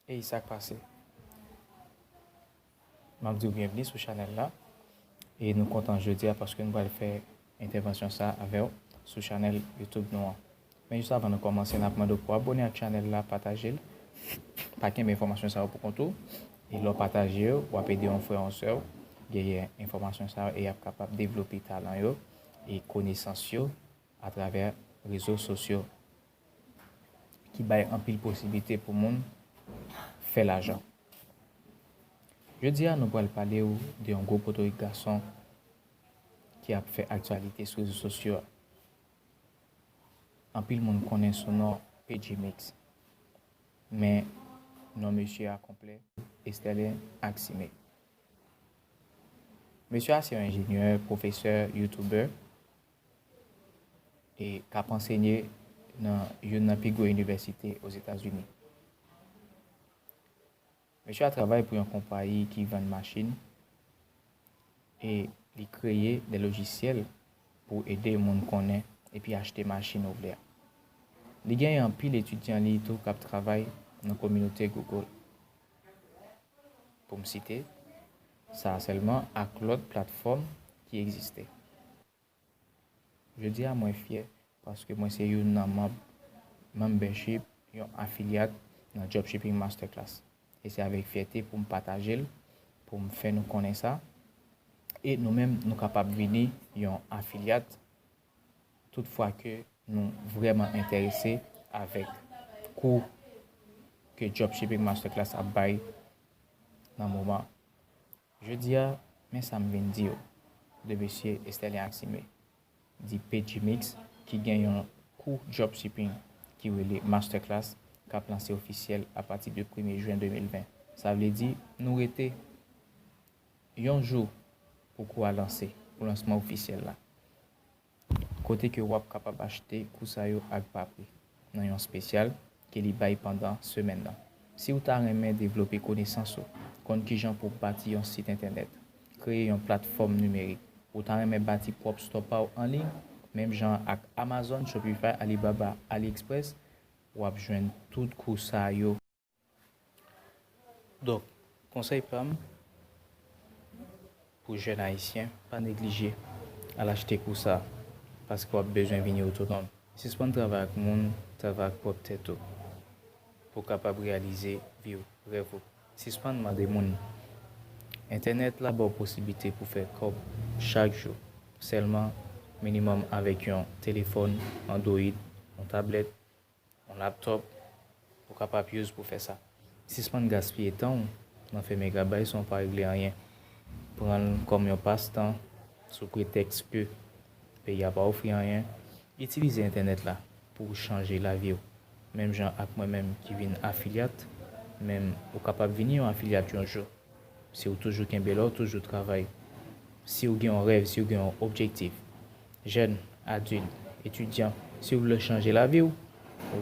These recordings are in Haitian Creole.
Ey sak pase? Map diw byenvni sou chanèl la e nou kontan jodia paske nou pral fè entèvansyon sa avèw sou chanèl youtube nou an men jis avan nou kòmanse nap mandew pou abone ak chanèl la patajel pa kenbe enfòmasyon sa yo pou kont ou e lèw pataje yo wap ede yon frè yon sèw genyen enfòmasyon sa yo e yap kapab devlope talan yo e konesans yo atravè rezo sosyo. ki bay anpil posiblite pou moun fè lajan. Jodi a nou pral pale ou de yon gwo potorik gason ki ap fè aktyalite sou rezo sosyo a. Anpil moun konnen sou non P Gmix. Men non mesye a konplè Esterlin Axime. Mesye a se yon enjenyè, pwofesè, youtubè e k ap ansenye nan youn nan pi gwo inivèsite Ozetazini. Mesye a travay pou yon konpayi ki vann machin e li kreye de lojisyèl pou ede moun konnen epi achte machin ou vle a. Li gen anpil etidyan li tou k ap travay nan kominote Google, pou m site. Sa a sèlman ak lòt platfòm ki egziste. Jodi a mwen fyè paske mwen se youn nan manb Membership, yon afilyat nan Dropshipping Masterclass. E se avèk fyète pou m pataje l, pou m fè nou konnen sa, e nou menm nou kapab vini yon afilyat tout fwa ke nou vrèman enterese avèk kou ke Dropshipping Masterclass ap bay nan moman. Jodi a, men sa m vin di ou, 2 mesye Estèlin ak Sime, di Pagimix ki gen yon kou Dropshipping ki rele Masterclass k ap lanse ofisyèl apati de premye jwen 2020. Sa vle di nou rete Yon jou pou kou a lanse pou lansman ofisyèl la, kote ke wap kapab achte kou sa yo ak ba pri nan yon spesyal ke li bay pandan semèn nan. Siw ta renmen devlope konesans ou, konn kijan pou bati yon sit entènèt, kreye yon platfòm nimerik, ou ta renmen bati pwòp stò paw an liy, menm jan ak Amazon, Shopify, Alibaba, AliExpress, wap jwenn tout kou sa yo. Donk, konsèy pa m pou jèn ayisyen, pa neglije al achte kou sa a paske w ap bezwen vini otonòm. Sispann travay ak moun, travay ak pwòp tèt ou pou w kapab reyalize vi w, rèv ou. Sispann mande moun. Entènèt la ba w posiblite pou w fè kòb chak jou sèlman minimòm avèk yon telefòn andwoyid, yon tablèt. Yon laptop ou kapap use pou fè sa. Sispann gaspiye tan w nan fè megabay san w pa regle anyen. Pran l kòm yon pas tan sou pretèks ke peyi a pa ofri anyen. Itilize entènèt la pou w chanje lavi w. Menm jan ak mwen menm ki vin afilyat, menm ou kapab vini yon afilyat yon jou. Si w toujou kenbe la w toujou travay. Si w gen yon rèv, si w gen yon objektif. Jèn, adil, etidyan, si ou vle chanje lavi ou,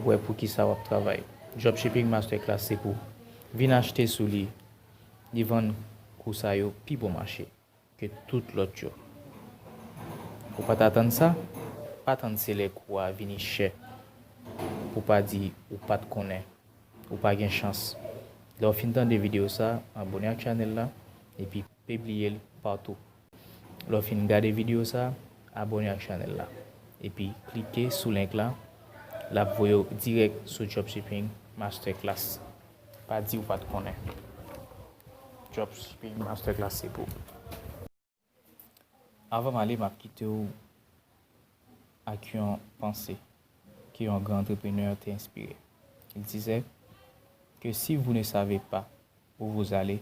wè pou kisa wap travay. Dropshipping Masterclass se pou. Vin achte sou li, li vann kou sa yo pi bon mache ke tout lòt yo. Ou pat atann sa? Pa tann se lè kou a vini chè pou pa di ou pat konnen. Ou pa gen chans. Lèw fin tande video sa, abone ak chanèl la epi pibliye l patou. Lè w fin gade video sa, abone ak chanèl la. Epi klike sou link la, lap voye w dirèk sou dropshipping masterclass. Pa di ou pat konnen. Dropshipping masterclass se pou ou. Avan m ale map kite w ak yon panse ke yon gran entrepreneur te enspire. Il disait que si vous ne savez pas où vous allez,